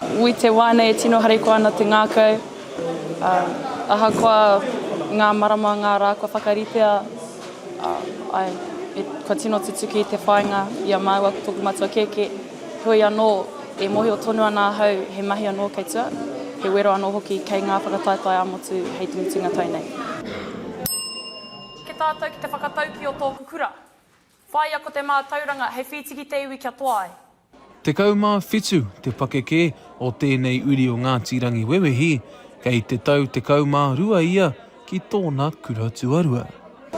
I te wā nei e tino harikoa ana te ngākau, ā, ahakoa ngā marama, ngā rā kua whakaritea, ā, āe, e, kua tino tutuki te whāinga i a māua ko tōku matua kēkē, heoi anō, e mōhio tonu ana ahau he mahi anō kei tua, he wero anō hoki kei ngā whakataetae ā-motu hei te mutunga tau nei. Ki tātou ki te whakataukī o tōku kura. Whāia ko te mātauranga hei whītiki te iwi kia toa ai. Tekau mā whitu te pakeke o tēnei uri o Ngāti Rangiwewehi, kei te tau tekau mā rua ia ki tōna kura tuarua.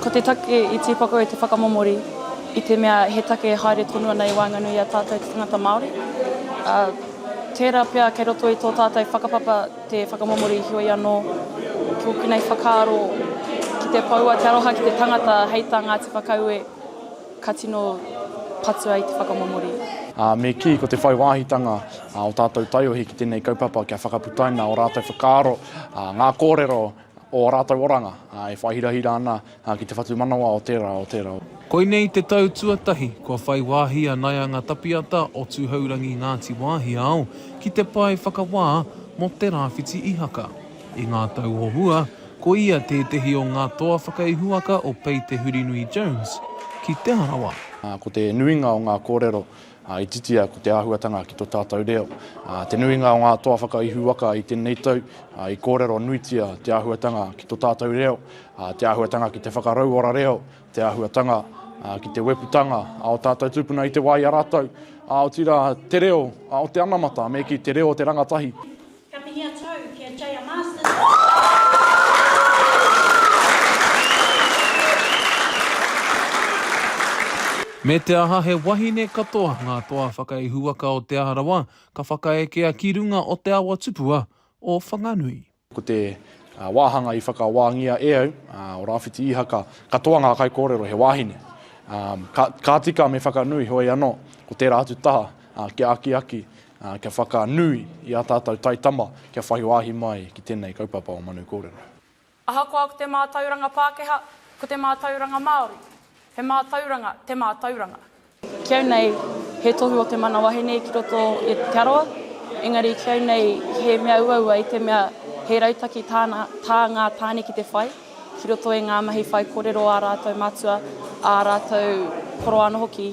Ko te take i tīpako e te whakamomori i te mea he take e haere tonu ana i waenganui i a tātou te tangata Māori, ā, tērā pea kei roto i tō tātou whakapapa. Te whakamomo riri heoi anō, ki ōku nei whakaaro, ki te poua te aroha ki te tangata hei tā Ngāti Whakaue, ka tino patua i te whakamomo riri. Me kī, ko te whai wāhitanga o tātou taiohi ki tēnei kaupapa kia whakaputaina ō rātou whakaaro, ngā kōrero o ō rātou oranga e whai hirahira ana ki te whatumanawa o tērā, o tērā. Koinei te tau tuatahi kua whai wāhi a Naianga Tapiata o Tūhourangi Ngāti Wāhiao ki te pae whakawā mō Te Rāwhiti Ihaka. I ngā tau o mua, ko ia tētehi o ngā toa whakaihuwaka o Pei Te Hurinui Jones ki Te Arawa. Ko te nuinga o ngā kōrero Ā, i titia ko te āhuatanga ki tō tātou reo. Ā, te nuinga o ngā toa whakaihu waka i tēnei tau, ā, i kōrero nuitia te āhuatanga ki tō tātou reo, ā, te āhuatanga ki te whakarauora reo, te āhuatanga, ā, ki te weputanga, ā, o tātou tūpuna i te wā i a rātou, ā, otirā, te reo, ā, o te anamata, me kī, te reo o te rangatahi. Ka mihi a tou ki a Jaya Masters. Me te aha he wahine katoa ngā toa whakaihuwaka o Te Aha Rawa ka whakaekea ki runga o te awa tupua o Whanganui. Ko te wāhanga i whakawāngia e au, o Rāwhiti Īhaka, katoa ngā kaikōrero he wāhine. Ka tika me whakanui, heoi anō, ko tērā atu taha kia akiaki ā, kia whakanui i ā tātou taitama kia whai wāhi mai ki tēnei kaupapa o Manu Kōrero. Ahakoa ko te mātauranga Pākehā, ko te mātauranga Māori, he mātauranga te mātauranga. Ki au nei, he tohu o te mana wahine ki roto i Te Arawa, engari ki au nei he mea uaua i te mea he rautaki tāna, tā ngā tāne ki te whai, ki roto i ngā mahi whai kōrero ā rātou matua, ā rātou koroa anō hoki.